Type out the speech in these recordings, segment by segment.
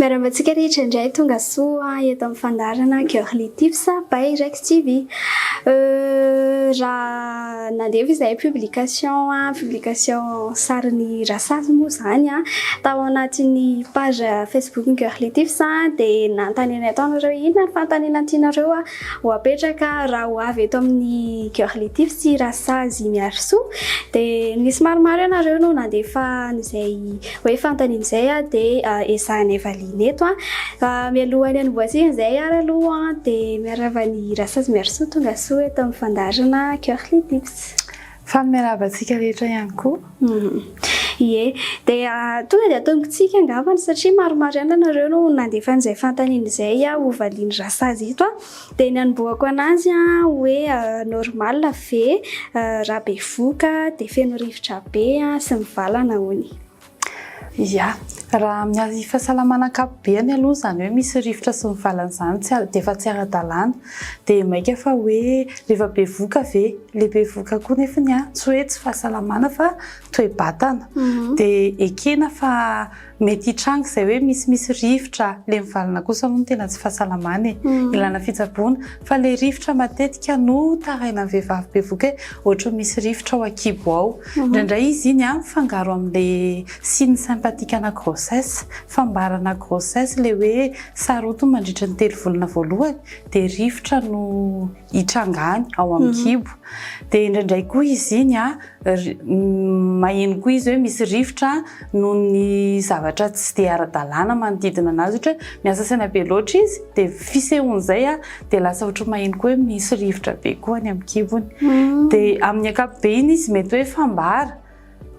Miarahaba antsika rehetra indray tonga soa eto amin'ny fandaharana Girly Tips by Rex TV. Euh, raha nandevo izay publication publication sarin'ny rasazy moa izany a, tao anatin'ny page Facebook Girly Tips dia nanontanianay tao nareo inona ny fanontaniana tianareo Ho apetraka raha ho avy eto amin'ny Cœur Létif sy Rasazy Miarisoa dia nisy maromaro ianareo no nandefa an'izay hoe fanontaniana izay dia ezahanay valiana eto. Mialohan'ny hanombohantsika izay ary aloha dia miarahaba an'i Rasazy Miarisoa tongasoa eto amin'ny fandaharana Cœur Létif. Faly miarahaba antsika rehetra ihany koa. Ie, dia tonga dia tombontsika angambany satria maromaro ihany ianareo no nandefa an'izay fanontaniana izay ho valian'i Rasazy eto. Dia ny anombohako an'azy hoe normal ve raha bevoka dia feno rivotra be sy mivalana hono? Ia, raha amin'ny fahasalamana ankapobeny aloha izany hoe misy rivotra sy ny valiny izany tsy dia efa tsy ara-dalàna. Dia mainka fa hoe rehefa bevoka ve? Ilay bevoka koa nefany an, tsy hoe tsy fahasalamana fa toe-batana. Dia ekena fa mety hitranga izay hoe misimisy rivotra. Ilay mivalona kosa aloha no tena tsy fahasalamana e. Ilana fitsaboana. Fa ilay rivotra matetika no tarainan'ny vehivavy bevoka hoe ohatran'ny misy rivotra ao an-kibo ao. Indraindray izy iny an mifangaro amle signe sympathique ana grossesse, fambarana grossesse le hoe sarotiny mandritry ny telo volana voalohany dia rivotra no hitranga any ao amin'ny kibo. Dia indraindray koa izy iny an maheno koa izy hoe misy rivotra noho ny zavatra tsy dia ara-dalàna manodidina anazy ohatra hoe miasa saina be loatra izy dia fisehon'izay an dia lasa ohatry ny maheno koa hoe misy rivotra be koa any amin'ny kibony. Mm. Dia amin'ny ankapobeny izy mety hoe fambara,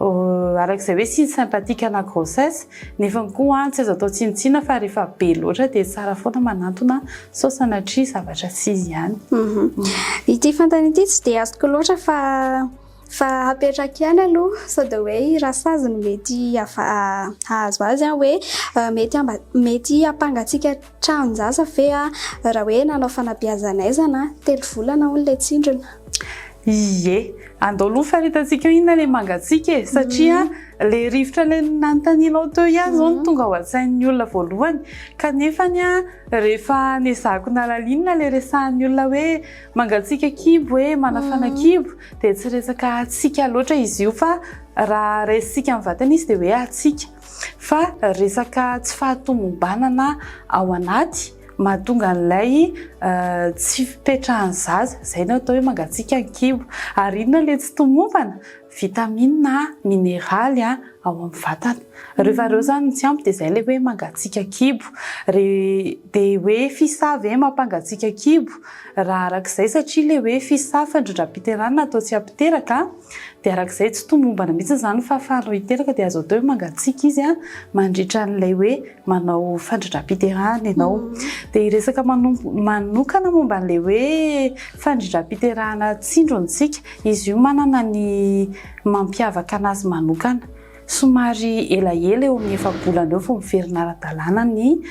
euh, arak'izay hoe signe sympathique ana grossesse, nefa koa tsy azo atao tsinontsinona fa rehefa be loatra dia tsara foana manantona sao sanatria zavatra tsy izy ihany. Mhm. Ity fantany ity tsy dia azoko loatra fa fa hapetraka ihany aloha sao dia hoe i rasazy no mety hahazo azy an hoe euh, mety mety hampangatsiaka Tranon-jaza ve a! Raha hoe nanao fanabeazan'aizana a! Telo volana hono ilay tsindrona. Ie, andao aloha faritantsikao inona ilay mangatsiaka e! Satria ilay rivotra ilay nanontanianao teo ihany izao no tonga ao an-tsain'ny olona voalohany. Kanefa anie a, rehefa nezahiko nalalinina ilay resahan'ny olona hoe mangatsiaka kibo e, manafana kibo, dia tsy resaka hatsiaka loatra izy io fa raha raisintsika amin'ny vatana izy dia hoe hatsiaka. fa resaka tsy fahatomombanana ao anaty mahatonga an'ilay tsy fipetrahan'ny zaza izay no atao hoe mangatsiaka ny kibo ary inona ilay tsy tomombana vitamina mineraly ao amin'ny vatana rehefa ireo izany tsy ampy dia izay ilay hoe mangatsiaka kibo re dia hoe fisa ve mampangatsiaka kibo raha arak'izay satria ilay hoe fisa fandrindram-piterana atao tsy ampiteraka Dia araka izay tsy tomombana mihitsy izany ny fahafahana roa hiteraka dia azo atao hoe mangatsiaka izy mandritra an'ilay hoe manao fandridram-piterahana ianao. Dia hiresaka manokana momba an'ilay hoe fandridram-piterahana tsindro ny tsiky. Izy io manana ny mampiavaka anazy manokana. Somary elaela eo amin'ny efa-bolana eo vao miverina ara-dalàna ny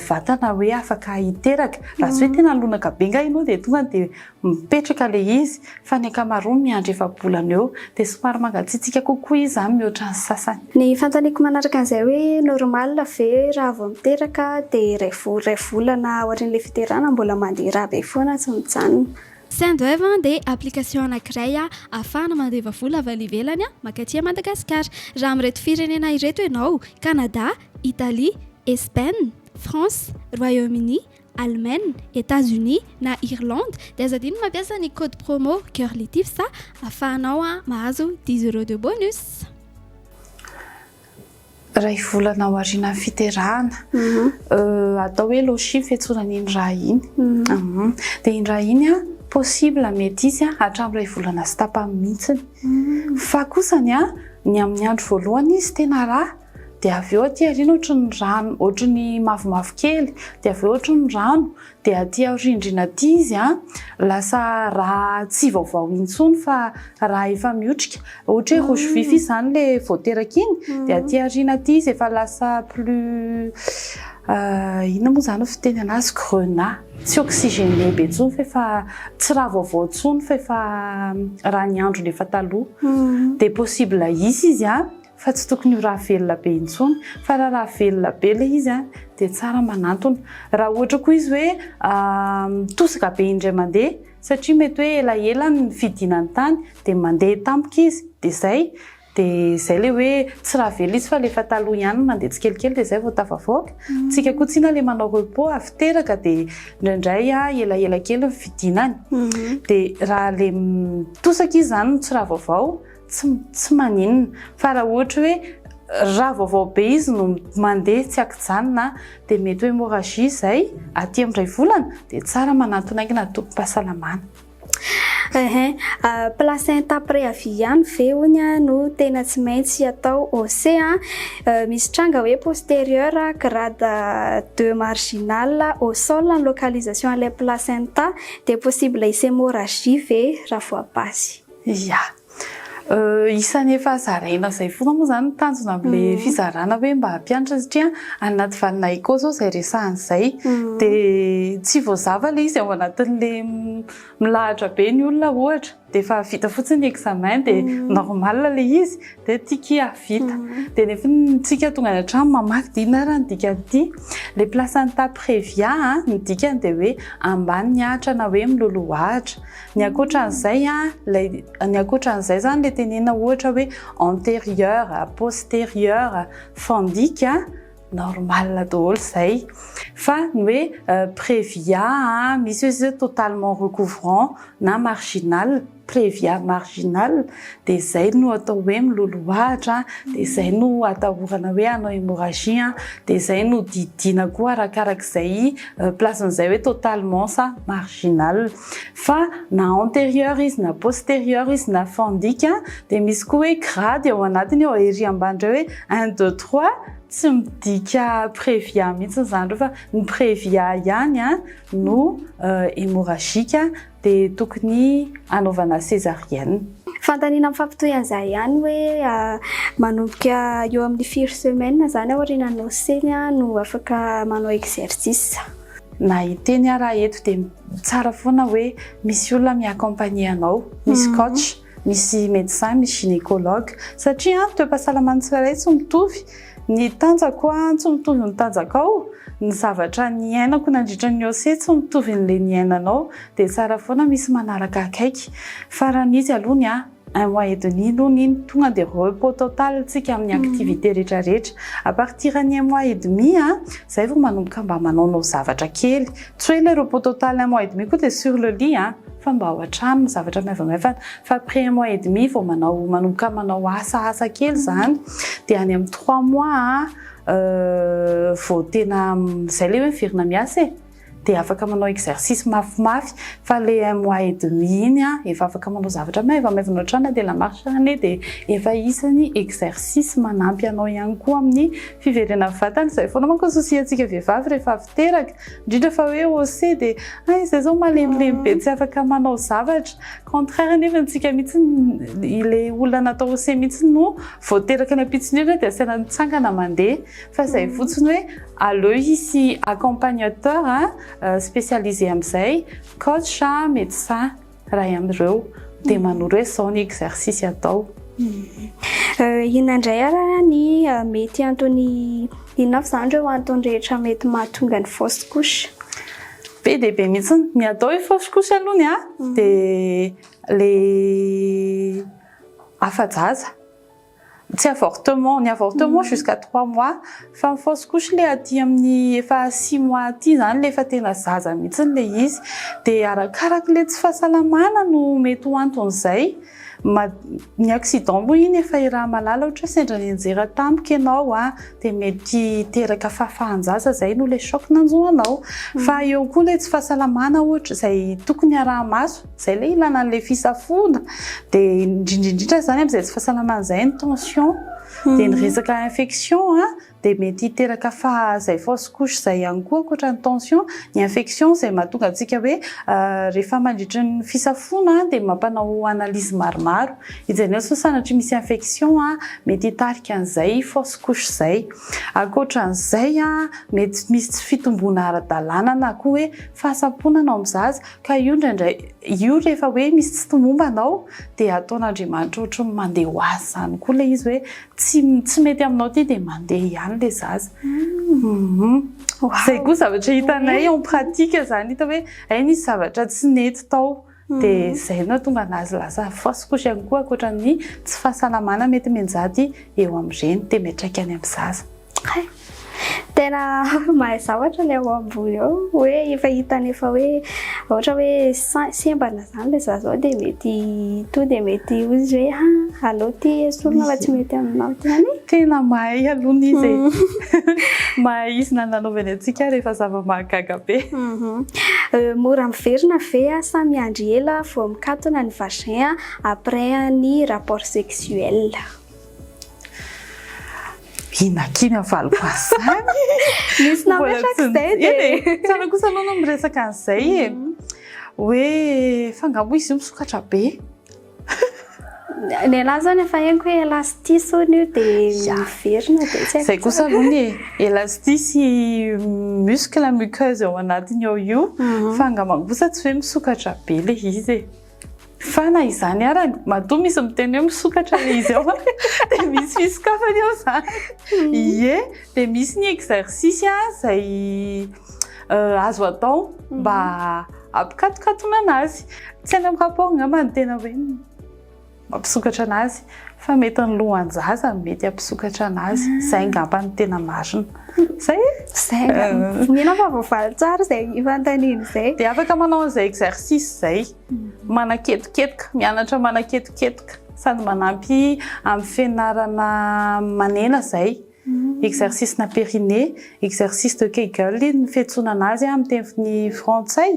vatana hoe afaka hiteraka. Raha tsy hoe tena lonaka be angaha ianao dia tonga dia mipetraka le izy fa ny ankamaroany miandry efa-bolana eo dia somary mangatsiatsiaka kokoa izy zany mihoatra ny sasany. Ny fanontaniako manaraka an'izay hoe normal ve raha vao miteraka dia iray iray volana aorian'ilay fiterahana mbola mandeha rà be foana tsy mijanona. Sendwave dia application anankiray ahafahana mandeva vola avy any ivelany mankaty à Madagascar. Raha amin'ireto firenena ireto ianao, Canada, Italie, Espaine, France, Royaume-Uni, Allemagne, Etats-Unis na Irlande dia aza adino ny mampiasa ny code promo Curlytips afahanao mahazo dix euros de bonus. Iray volana aorianan'ny fiterahana. Atao hoe loshi ny fiantsoana an'iny raha iny. Dia iny raha iny possible mety hisy hatramin'ny iray volana sy tapany mihitsy. Fa kosa ny amin'ny andro voalohany izy tena raha. dia avy eo aty aoriana ohatry ny rano ohatry ny mavomavo kely dia avy eo ohatry ny rano dia aty aorindrina aty izy a lasa raha tsy vaovao intsony fa raha efa miotrika ohatry hoe rouge vif izy izany le vao teraka iny dia aty aoriana aty izy efa lasa plus inona moa izany fiteny anazy grenat tsy oxygène be intsony fa efa tsy raha vaovao intsony fa efa raha ny androny efa taloha dia possible hisy izy a Fa tsy tokony ho rà velona be intsony. Fa raha rà velona be ilay izy dia tsara manantona. Raha ohatra koa izy hoe mitosaka be indray mandeha satria mety hoe elaela ny fidina ny tany dia mandeha tampoka izy dia izay. Dia izay ilay hoe tsy rà velona izy fa alefa taloha ihany ny mandeha tsikelikely dia izay vao tafavoaka. Tsika koa tsinona ilay manao repos avy teraka dia indraindray elaela kely ny fidinany. Dia raha ilay mitosaka izy izany no tsy rà vaovao. Tsy, tsy maninona. Fa raha ohatra hoe raha vaovao be izy no mandeha tsy an-kijanona dia mety ho hémorragie izay aty amin'ny iray volana dia tsara manantona aingana antokom-pahasalamana. Ehe, placenta préavis ihany ve hono no tena tsy maintsy atao OC a? Misy tranga hoe postérieur grade deux marginal au sol ny localisation an'ilay placenta dia possible hisy hémorragie ve raha voa-basy? Ia. Isan'ny efa zaraina izay foana moa izany ny tanjona amin'ilay fizarana hoe mba hampianatra satria any anaty valina éco izao izay resahana izay dia tsy voazava ilay izy ao anatin'ilay milahatra be ny olona ohatra dia efa vita fotsiny ny examen dia normal ilay izy dia tiky hahavita dia nefany isika tonga any an-trano mamaky dia inona ary ny dikan'ity les places any tapitrevia a ny dikany dia hoe ambany ny ahitra na hoe miloloha ahitra. Ny ankoatran'izay, ilay, ny ankoatran'izay izany ilay tenenina ohatra hoe antérieur, postérieur, fandika, normal daholo izay. Fa ny hoe prévia, misy hoy izy hoe totalement recouvrant na marginal, prévia marginal, dia izay no atao hoe miloloha ahitra, dia izay no atahorana hoe hanao hémorragie, dia izay no didiana koa arakarak'izay place-n'izay hoe totalement sa marginal. fa na antérieur izy na postérieur izy na fandika dia misy koa hoe grady ao anatiny ao ery ambany iray hoe un deux trois tsy midika prévia mihitsy izany ireo fa ny prévia ihany no hémorragique dia tokony hanaovana césarienne. Fanontaniana mifampitohy an'izay ihany hoe manomboka eo amin'ny firy semaines izany aorianan'ny naoseny no afaka manao exercice. Na hiteny ara eto dia tsara foana hoe misy olona mi accompagner anao, misy coach, misy médecin, misy gynécologue satria an ny toe-pahasalaman'ny tsirairay tsy mitovy, ny tanjako an tsy mitovy ny tanjakao, ny zavatra niainako nandritra ny OC tsy mitovy ny le niainanao dia tsara foana misy manaraka akaiky fa raha misy aloha ny ahy Un mois et demi aloha iny tonga dia repos total tsika amin'ny activité rehetra rehetra. A partir ny un mois et demi zay vao manomboka mba manaonao zavatra kely. Tsy hoe ilay repos total un mois et demi koa dia sur le lit an! Fa mba ao an-trano ny zavatra maivamaivana. Fa après un mois et demi vao manao manomboka manao asa asa kely izany. Dia any amin'ny trois mois vao tena izay ilay hoe miverina miasa e! Dia afaka manao exercice mafimafy fa le un mois et demi iny an efa afaka manao zavatra maivamaivana ohatrany na dia la marche any e dia efa isany exercice manampy anao ihany koa amin'ny fiverenan'ny vatana, izay foana manko ny souci antsika vehivavy rehefa avy teraka indrindra fa hoe hausse dia hay izay izao malemilemy be tsy afaka manao zavatra, contraire nefa antsika mihitsy le olona natao hausse mihitsy no vao teraka ny ampitson'iriny dia asaina mitsangana mandeha fa izay fotsiny hoe Aleo hisy accompagnateur spécialisé amin'izay, coach, médecin, iray amin'ireo dia manoro hoe izao ny exercice atao. Inona indray ary ny mety antony, inona avy izany ireo antony rehetra mety mahatonga ny fausse couche? Be dia be mihitsy ny, ny atao hoe fausse couche aloha ny ahy dia ilay afa-jaza. Tsy avortement, ny avortement jusqu'à trois mois, fa ny fausse couche le aty amin'ny efa six mois aty zany le efa tena zaza mihitsy le izy, dia arakaraky le tsy fahasalamana no mety ho anton'izay, ny accident moa iny efa iraha malala ohatra hoe sendra nianjera tampoka ianao an, dia mety hiteraka fahafahan-jaza zay no le choc nanjo anao, fa eo koa le tsy fahasalamana ohatra izay tokony araha-maso. Zay le ilana anle fisafoana, de indrindra indrindra zany amzay tsy fahasalamana zay ny tension, de ny resaka infection a, de mety hiteraka faha zay fausse couche zay ihany koa ankoatra ny tension, ny infection zay mahatonga antsika hoe rehefa mandritry ny fisafoana a de mampanao analyse maromaro hijerena sao sanatria misy infection a, mety hitarika anzay fausse couche zay, ankoatranzay a mety misy tsy fitomboana ara-dalàna na koa hoe fahasamponana ao am zaza, Ka io indraindray, io rehefa hoe misy tsy tomomba anao dia ataon'Andriamanitra ohatry ny mandeha ho azy izany koa ilay izy hoe tsy tsy mety aminao ity dia mandeha ihany ilay zaza. Izay koa zavatra hitanay en pratique izany hita hoe hay nisy zavatra tsy nety tao dia izay no nahatonga an'azy lasa fausse couche ihany koa ankoatra ny tsy fahasalamana mety mianjady eo amin'ireny dia miantraika any amin'ny zaza. Hay! Tena mahay zavatra ilay ao ambony ao, hoe efa hitany efa hoe ohatra hoe sembana izany ilay zaza ao dia mety tonga dia mety hoy izy hoe ha aleo ity esorina fa tsy mety aminao ity anie. Tena mahay aloha ny izy e. Mahay izy na nanaovany antsika ary efa zava-mahagaga be. Mora miverina ve sa miandry ela vao mikatona ny vagin après ny rapport sexuel? Inakiana ny faliko an'izany. Nisy nametraka izay dia. Eny e, tsara kosa aloha no miresaka an'izay e. Hoe fa nga moa izy io misokatra be. Ny anahy izany efa henoko hoe elastis hono io dia miverina dia tsy haiko. Izay kosa aloha ny e, elastis sy muscle muqueuse ao anatiny ao io fa angamba kosa tsy hoe misokatra be ilay izy e. Fa na izany ara, matoa misy miteny hoe misokatra ilay izy ao, dia misy fisokafany ao izany. Hmm. Ie, dia misy ny exercice izay euh, azo atao hmm. mba ampikatokatonana azy. Tsy any amin'ny rapport angamba ny tena hoe mampisokatra anazy. Fa mety ny lohan-jaza no mety hampisokatra anazy. Izay angamba no tena marina. Izay e? Izay angamba. Mila fa voavaly tsara izay fanontaniana izay. Dia afaka manao an'izay exercice izay. Manaketoketoka, mianatra manaketoketoka. Sady manampy amin'ny fianarana manena izay. Exercice-na périnée, exercice de Kegel ny fiantsonana azy amin'ny teny frantsay,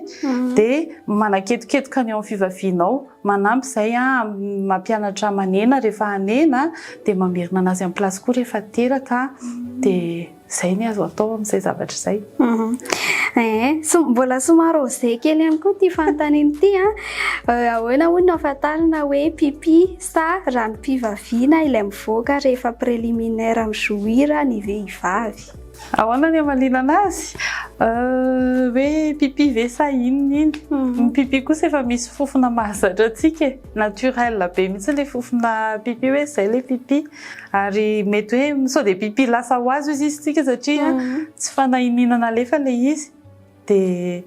dia manaketoketoka ny eo amin'ny fivavianao, manampy izay amin'ny maha mpianatra manena rehefa hanena, dia mamerina an'azy amin'ny place koa rehefa teraka, dia izay ny azo atao amin'izay zavatra izay. Mbola somary osé kely ihany koa ity fanontaniana ity an, ahoana hono no ahafantarana hoe pipi Sa ranom-pivaviana ilay mivoaka rehefa préliminaire mi-jouir ny vehivavy? Ahoana ny hamalinana azy? Hoe pipi ve sa inona iny? Ny pipi kosa efa misy fofona mahazatra antsika e! Naturel be mihitsy ilay fofona pipi hoe izay ilay pipi. Ary mety hoe sao dia pipi lasa ho azy hoy izy tsika satria tsy fanahy iniana nalefa ilay izy. Dia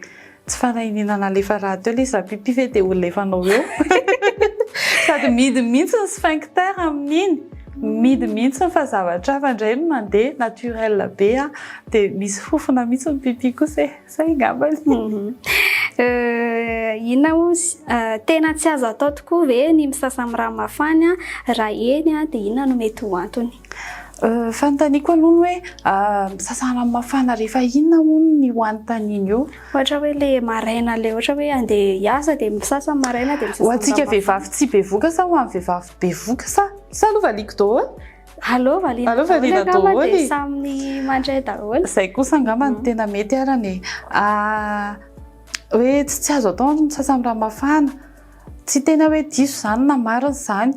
tsy fanahiniana nalefa rahateo ilay izy raha pipi ve dia ho lefanao eo. Sady midiny mihitsy ny sphincter amin'iny. Midiny mihitsy fa zavatra hafa indray no mandeha, naturel be an! Dia misy fofona mihitsy ny pipi kosa e! Izay angamba e! Inona hozy? Tena tsy azo atao tokoa ve ny misasa amin'ny rano mafana raha eny dia inona no mety ho antony? Fanontaniako aloha ny hoe sasana mafana rehefa inona hono ny ho anontaniana eo? Ohatra hoe le maraina le ohatra hoe andeha hiasa dia misasa maraina dia misasa Ho antsika vehivavy tsy bevoka sa ho an'ny vehivavy bevoka sa sa aloha valiako daholo? Aleo valiana Aleo valiana daholo e! dia samy mandray daholo. Izay kosa angamba no tena mety arany e! hoe tsy tsy azo atao ny misasa amin'ny rano mafana Tsy tena hoe diso izany na marina izany,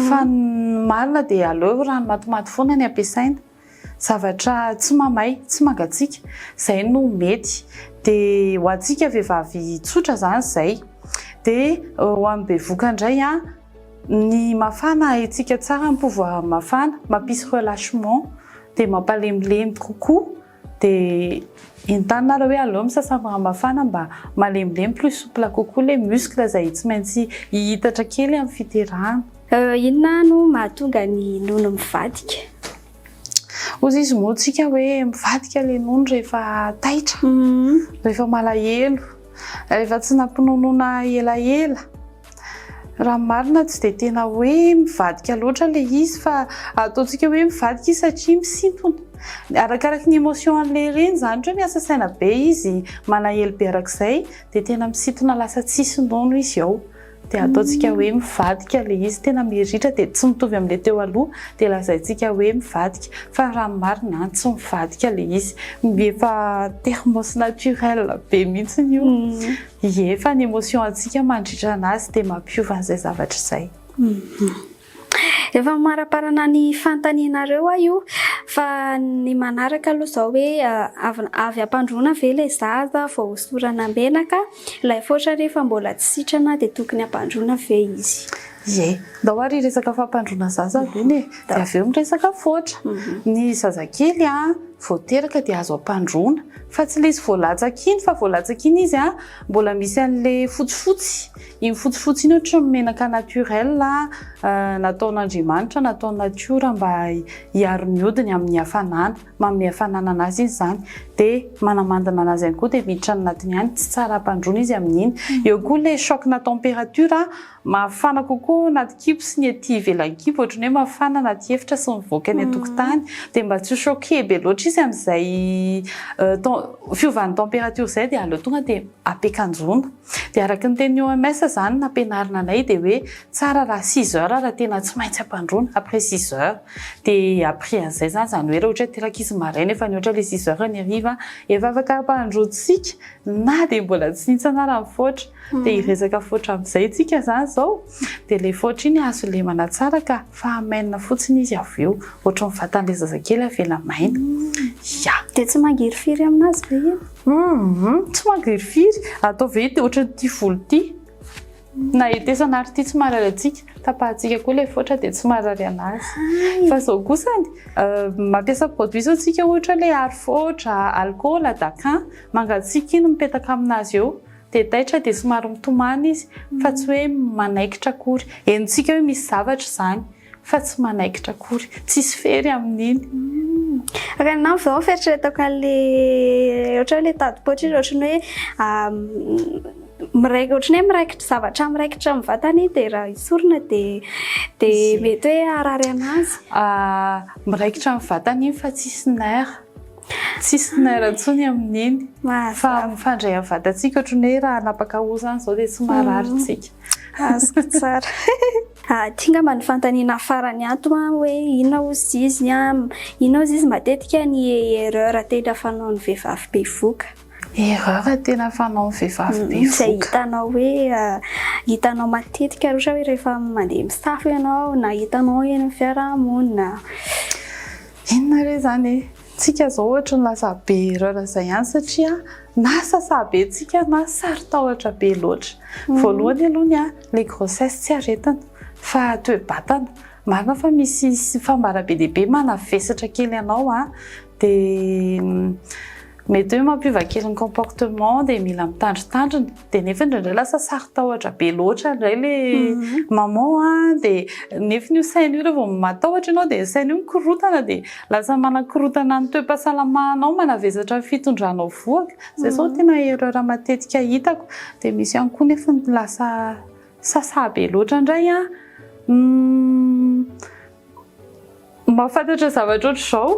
fa ny marina dia aleo rano matimaty foana ny ampiasaina, zavatra tsy mamay, tsy mangatsiaka, izay no mety. Dia ho antsika vehivavy tsotra izany izay. Dia ho an'ny bevoka indray, ny mafana haintsika tsara ny pouvoir mafana, mampisy relâchement, dia mampalemilemy kokoa Dia entanareo hoe aleo misasa amin'ny rano mafana mba malemilemy plus souple kokoa ilay muscle izay tsy maintsy hihitatra kely amin'ny fiterahana. Inona no mahatonga ny nono mivadika? Hozy izy moa tsika hoe mivadika ilay nono rehefa taitra, rehefa malahelo, rehefa tsy nampinonoana elaela. Raha ny marina tsy dia tena hoe mivadika loatra ilay izy fa ataontsika hoe mivadika izy satria misintona. Arakaraky ny émotion an'ilay reny izany ohatra hoe miasa saina be izy, manahelo be arak'izay dia tena misintona lasa tsisy nono izy ao. Dia ataontsika hoe mivadika ilay izy, tena miritra dia tsy mitovy amin'ilay teo aloha dia lazaintsika hoe mivadika fa raha ny marina an tsy mivadika ilay izy. Efa termes naturels be mihitsy io. Ie, fa ny emotion antsika mandritra anazy dia mampiova an'izay zavatra izay. Efa mamaraparana ny fanontanianareo aho io fa ny manaraka aloha izao hoe avy ampandroana ve ilay zaza vao hosorana menaka? Ilay faotra re efa mbola tsy sitrana dia tokony ampandroana ve izy? Ie, ndao ary hiresaka fampandroana zaza aloha anie dia avy eo miresaka faotra. Ny zazakely vao teraka dia azo ampandroana. Fa tsy lesy voalatsaka iny fa voalatsaka iny izy an, mbola misy anle fotsifotsy, iny fotsifotsy iny ohatran'ny menaka naturel nataon'Andriamanitra, nataon'ny natiora mba hiaro ny hodiny amin'ny hafanana, manome hafanana anazy izy izany, dia manamandina anazy ihany koa dia miditra any anatiny any, tsy tsara hampandroana izy amin'iny, eo koa ilay choc-na température an, Mafana kokoa ao anaty kibo sy ny ety ivelan'ny kibo ohatry ny hoe mafana anaty efitra sy mivoaka eny an-tokotany dia mba tsy ho choqué be loatra izy amin'izay fiovan'ny température izay dia aleo tonga dia ampiakanjoana. Dia araka ny tenin'ny OMS izany nampianarina anay dia hoe tsara raha six heures raha tena tsy maintsy ampandroana, après six heures. Dia après an'izay izany, izany hoe raha ohatra hoe ateraky ankizy maraina efa nihoatra ilay six heures ny hariva, efa afaka ampandroantsika na dia mbola tsy nihintsana ary mifoatra. Dia hiresaka foatra amin'izay tsika izany izao. Dia ilay foatra iny azo lemana tsara ka fa hamainina fotsiny izy avy eo. Ohatry ny vatan'ilay zazakely avela maina. Ya. Dia tsy mangirifiry amin'azy ve iny? Hum, tsy mangirifiry. Ataovy ity ohatry ity volo ity. Na hetesana ary ity tsy marary antsika. Tapahantsika koa ilay foatra dia tsy marary an'azy. Fa izao kosa ny, mampiasa produit izao tsika ohatra hoe ilay aro foatra, alcool, dacan. Mangatsiaka iny mipetaka amin'azy eo. Dia taitra dia somary mitomany izy fa tsy hoe manaikitra akory. Henontsika hoe misy zavatra izany fa tsy manaikitra akory. Tsisy fery amin'iny. Raha ny namako izao fieritreretako an'ilay ohatra hoe ilay tadipoitra iny ohatran'ny hoe miraikitra ohatran'ny hoe miraikitra zavatra miraikitra amin'ny vatany iny dia raha esorina dia dia mety hoe harary an'azy. Miraikitra amin'ny vatany iny fa tsisy nerf. Tsisy naira intsony amin'ny neny. Fa mifandray amin'ny vatantsika ohatran'ny hoe raha hanapaka hoho izany izao dia tsy marary isika. Azoko tsara. Ity angamba ny fanontaniana farany ato hoe inona hozy izy inona hozy izy matetika ny erreur tena fanaon'ny vehivavy bevoka? Erreur tena fanaon'ny vehivavy bevoka. Izay hitanao hoe hitanao matetika ary ohatra hoe rehefa mandeha misafo ianao na hitanao eny amin'ny fiarahamonina. Inona re izany e! Tsika zao ohatry ny lasa be erreur izay ihany satria na sasa be tsika na saro-tahotra be loatra. Voalohany aloha ny ahy, le grossesse tsy aretina fa toe-batana. Marina fa misy fambara be dia be manavesatra kely anao a, dia mety hoe mampiova kely ny comportement dia mila mitandrintandrina. dia nefa indraindray lasa sarotahotra be loatra indray le maman a, dia nefa io saina io rehefa matahotra ianao dia saina io mikorontana dia lasa manakorontana ny toe-pahasalamanao, manavesatra ny fitondranao vohoka, izay izao no tena erreur matetika hitako, dia misy ihany koa nefa ny lasa sasa be loatra indray an. Mahafantatra zavatra ohatr'izao,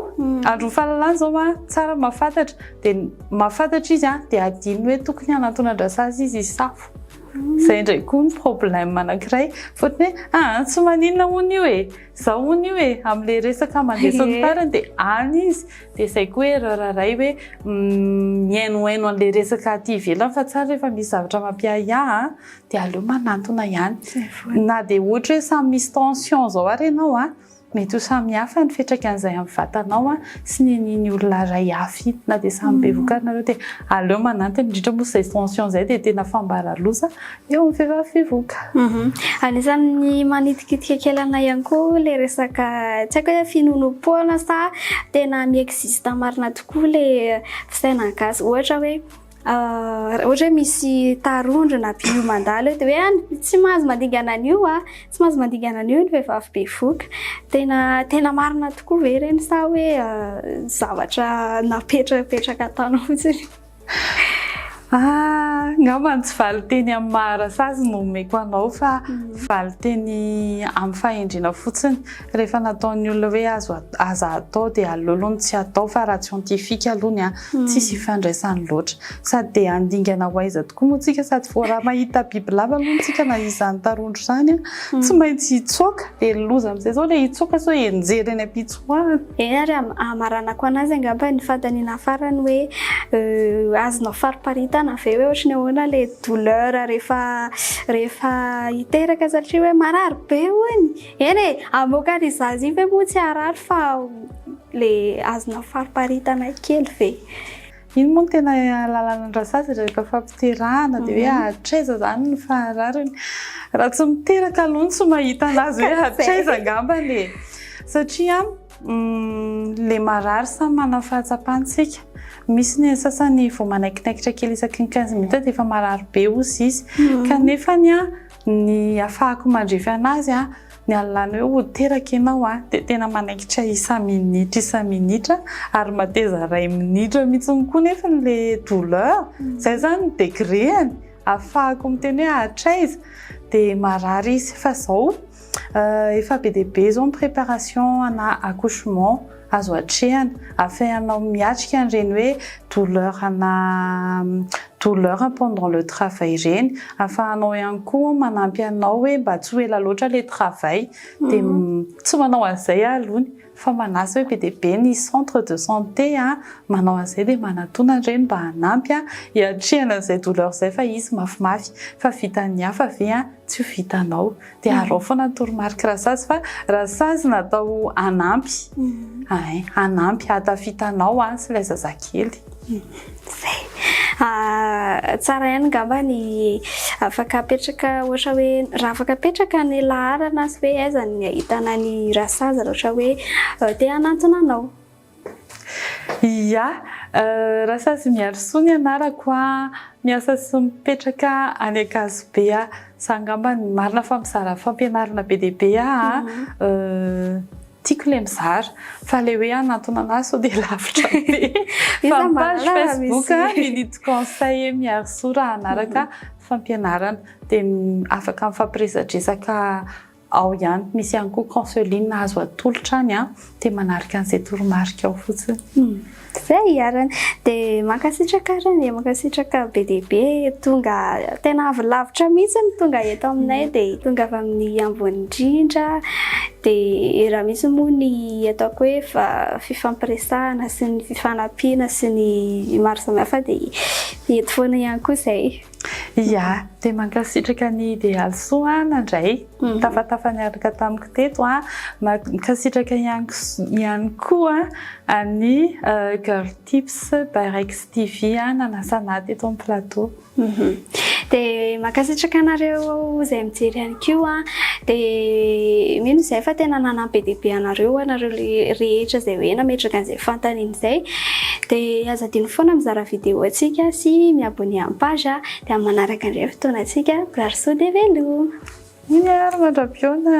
andron'ny fahalalana izao hoa, tsara mahafantatra, dia mahafantatra izy an, dia adinony hoe tokony hanatonan-dRasazy izy hisafo. Izay indray koa ny problème anankiray, fotony hoe aa tsy maninona hono io e, izao hono io e, amin'ilay resaka mandresiny farany dia any izy, dia izay koa erreur iray hoe mihainohaino an'ilay resaka aty ivelany fa tsara rehefa misy zavatra mampiahiahy an, Dia aleo manantona ihany. Na dia ohatra hoe samy misy tension izao ary ianao, mety ho samy hafa ny fiantraikan'izay amin'ny vatanao sy ny an'iny olona iray hafa iny. Na dia samy bevoka ary nareo dia aleo manantona, indrindra moa izay tension izay dia tena fambara-loza eo amin'ny vehivavy bevoka. Anisan'ny manitikitika kely anay ihany koa ilay resaka, tsy haiko hoe finoanoam-poana sa tena mi-existe marina tokoa ilay fisainan'ny gasy. Ohatra hoe Raha ohatra hoe misy tarondro na biby mandalo eo dia hoe any tsy mahazo mandingana an'io a, tsy mahazo mandingana an'io ny vehivavy bevoka. Tena tena marina tokoa ve ireny sa hoe zavatra napetrapetraka ataonao fotsiny? Angamba ny tsy valin-teny amin'ny maha rasazy no omeko anao fa valin-teny amin'ny fahendrena fotsiny. Rehefa nataon'ny olona hoe azo aza atao dia aleo aloha ny tsy atao fa raha scientifique aloha ny ahy tsisy ifandraisany loatra. Sady dia handingana ho aiza tokoa moa tsika sady vao raha mahita bibilava aloha tsika na izany tarondro izany an, tsy maintsy hitsoaka dia ny loza amin'izay izao ilay hitsoaka sao hianjera eny am-pitsoahana. Eny ary hamaranako an'azy angamba ny fanontaniana farany hoe azonao fariparitana ve hoe ohatry ny ahoana ilay douleur rehefa rehefa hiteraka satria hoe marary be hono e! Eny e, hamoaka an' i Zazie ve moa tsy harary fa le azona fariparitanay kely ve? Iny moa no tena lalanan-dRazazy rehefa fampiterahana dia hoe hatraiza izany no faharariny. Raha tsy miteraka aloha no tsy mahita anazy hoe hatraiza angambany e. Satria le marary samy manana ny fahatsapany isika. Misy ny an'ny sasany vao manaikinaikitra kely isaky ny quinze minutes dia efa marary be hozy izy. Kanefany an! Ny afahako mandrefy anazy ny alinalina eo ho teraka ianao dia tena manaikitra isa minitra isa minitra ary mateza ray minitra mihitsy koa nefany le douleur zay zany ny degreany afahako miteny hoe hatraiza dia marary izy fa zao efa be dia be zao ny préparation ana accouchement Azo atrehana, afehanao miatrika an'ireny hoe douleur na douleur pendant le travail ireny, afahanao ihany koa manampy anao hoe mba tsy ho ela loatra ilay travail, dia tsy manao an'izay aho aloha ny fa manasa hoe be dia be ny centre de santé manao an'izay dia manatona an'ireny mba hanampy hiatrehana an'izay douleur izay fa izy mafimafy, fa vitan'ny hafa ve tsy ho vitanao. Dia arao foana ny toromarika Rasazy fa Rasazy natao hanampy, hay, hanampy hahatafita anao an, sy ilay zazakely. Izay. Ah, tsara ihany angamba ny afaka apetraka ohatra hoe raha afaka apetraka ny laharana sy hoe aiza ny ahitana ny Rasazy raha ohatra hoe eh, te hanantona anao. Iya, Rasazimiarisoa ny anarako a, miasa sy mipetraka any Ankazobe a, za angamba no marina fa mizara fampianarana be dia be aho a, tiako ilay mizara fa ilay hoe hanantona anah sao dia lavitra be fa ny page facebook Milito conseil Miarisoa raha hanaraka fampianarana dia afaka mifampiresadresaka. Ao ihany, misy ihany koa counseling azo atolotra any dia manaraka an'izay toromarika ao fotsiny. Zay iarany. Dia mankasitraka arany e, mankasitraka be dia be. Tonga tena avy lavitra mihitsy ny tonga eto aminay mm. dia tonga avy amin'ny ambony indrindra. Dia raha misy moa ny ataoko hoe fa fifampiresahana sy ny fifanampiana sy ny maro samihafa dia eto foana ihany koa izay. Ia, dia mankasitraka an'i Idealisoa aho nandray tafatafa niaraka tamiko teto. Mankasitraka ihany koa an'i Girl Tips by Rex TV nanasa anah teto amin'ny plateau. Dia mankasitraka anareo izay mijery an'i Koa dia mino izay fa tena nanampy be dia be anareo ianareo rehetra izay hoe nametraka an'izay fantany an'izay. Dia aza adino foana mizara vidéo antsika sy mi abonner amin'ny page a! Dia amin'ny manaraka indray fotoanantsika, mirary soa dia veloma! Iny ary mandra-pihaona!